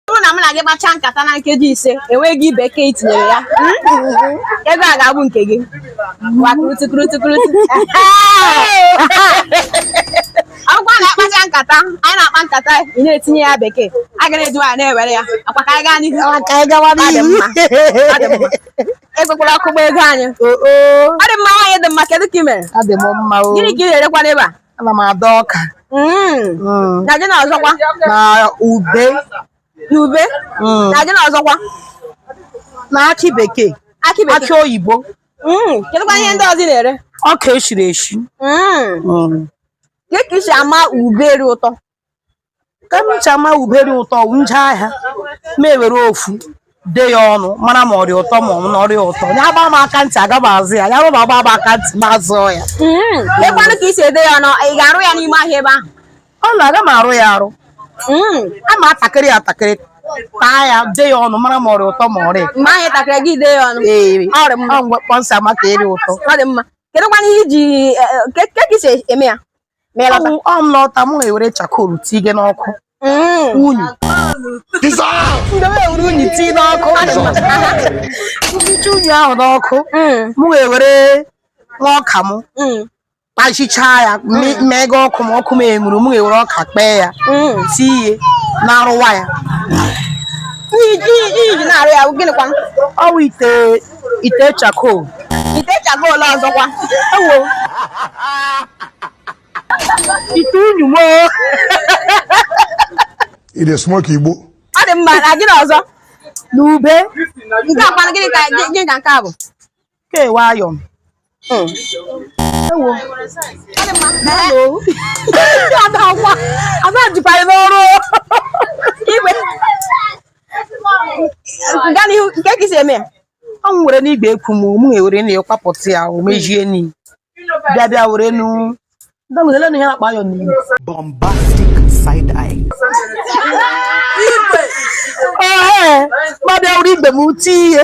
bụrụ na m na gị kpachaa nkata na nkeji ise enweghị bekee i tinyere ya hmm? ego a ga-abụ nke gị akwụkwọ na-akpacha nkata anyị na-akpa nkata ị na-etinye ya bekee a ga na-eji nwaanyị na-ewere ya ngwa ka anyị gaa n'ihu ekwekwala ọkụ gbaa ego anyị ọ dị mma nwaanyị dị mma kedu ka ị mere gịnị ka ị na-erekwa n'ebe a ana m ada ọka Mm. Mm, na gịnị ọzọkwa na ube na ube Mm. na gịnị ọzọkwa na akị bekee akị bekee akị oyibo Mm. kedụkwa ihe ndị ọzọ ị na-ere ọka eshiri eshi Mm. Mm. Kee ka i si ama ube rị ụtọ ka m si ama ube dị ụtọ m je ahịa mụ ewere ofu de ya ọnụ mara ma ọ dị ụtọ ma ọ na ọ rị ụtọ ya gba m aka ntị aga m azụ ya ya rụba agba m aka ntị ma zụọ ya mm. keekwanụ ka i si ede ya ọnụ ị ga-arụ ya n'ime ahịa ebe ahụ ọ na aga m arụ ya arụ mm. a ma atakịrị atakịrị taa ya de ya ọnụ mara ma ọ rị ụtọ ma ọ rịghị mgbe ahụ takịrị gị de ya ọnụ ee ọ maka rị ụtọ ọ dị mma kedụkwana ihe iji e, e, ka esi eme ya Ma ị lọta. ọ m lọta mụ ewere charcoal tige n'ọkụ Mm. unyi mụ ewere unyi tii n'ọkụ m ticha unyi ahụ n'ọkụ Mm. mụ ewere nwa ọka m Mm. kpachichaa ya me- mee ka ọkụ m ọkụ m enwuru mụ ewere ọka kpee ya Mm. tie ihe na-arụwa ya Iji iji na-arụ ya gịnịkwa? ọ wụ ite ite charcoal ite charcoal ọzọkwa ewo ite unyi mo ị dị smoke igbo ọ dị mma na gịnị ọzọ na ube nke a kwanụ gịnị ka gịnị ka nke a bụ kewayo Hmm. Ewo. Hello. Ada akwa. Ada jikwa anyị n'ọrụ. Igwe. Gaa n'ihu kee ka i si eme ya. Ọ m were n'igwe ekwu m mụ ewere na ya kwapụta ya o mejie ni. Bịa bịa were nu. Ndị nwere lenu ihe na-akpa ya n'ihu. bombastic side eye. Ee, ma bịa were igwe m tie ihe.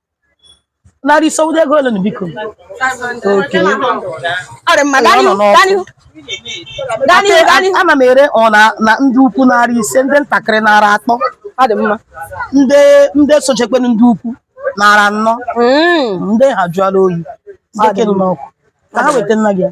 narị ise ọ wụdị ego ole nụ biko okay ọ dị mma gaa n'ihu gaa n'ihu gaa n'ihu gaa n'ihu ana m ere ọ na na ndị ukwu narị ise ndị ntakịrị narị atọ ọ dị mma ndị ndị sochekwenu ndị ukwu narị anọ Mm. ndị ha jụọla oyi ndị ka nọ n'ọkụ ka ha weta nna gị ya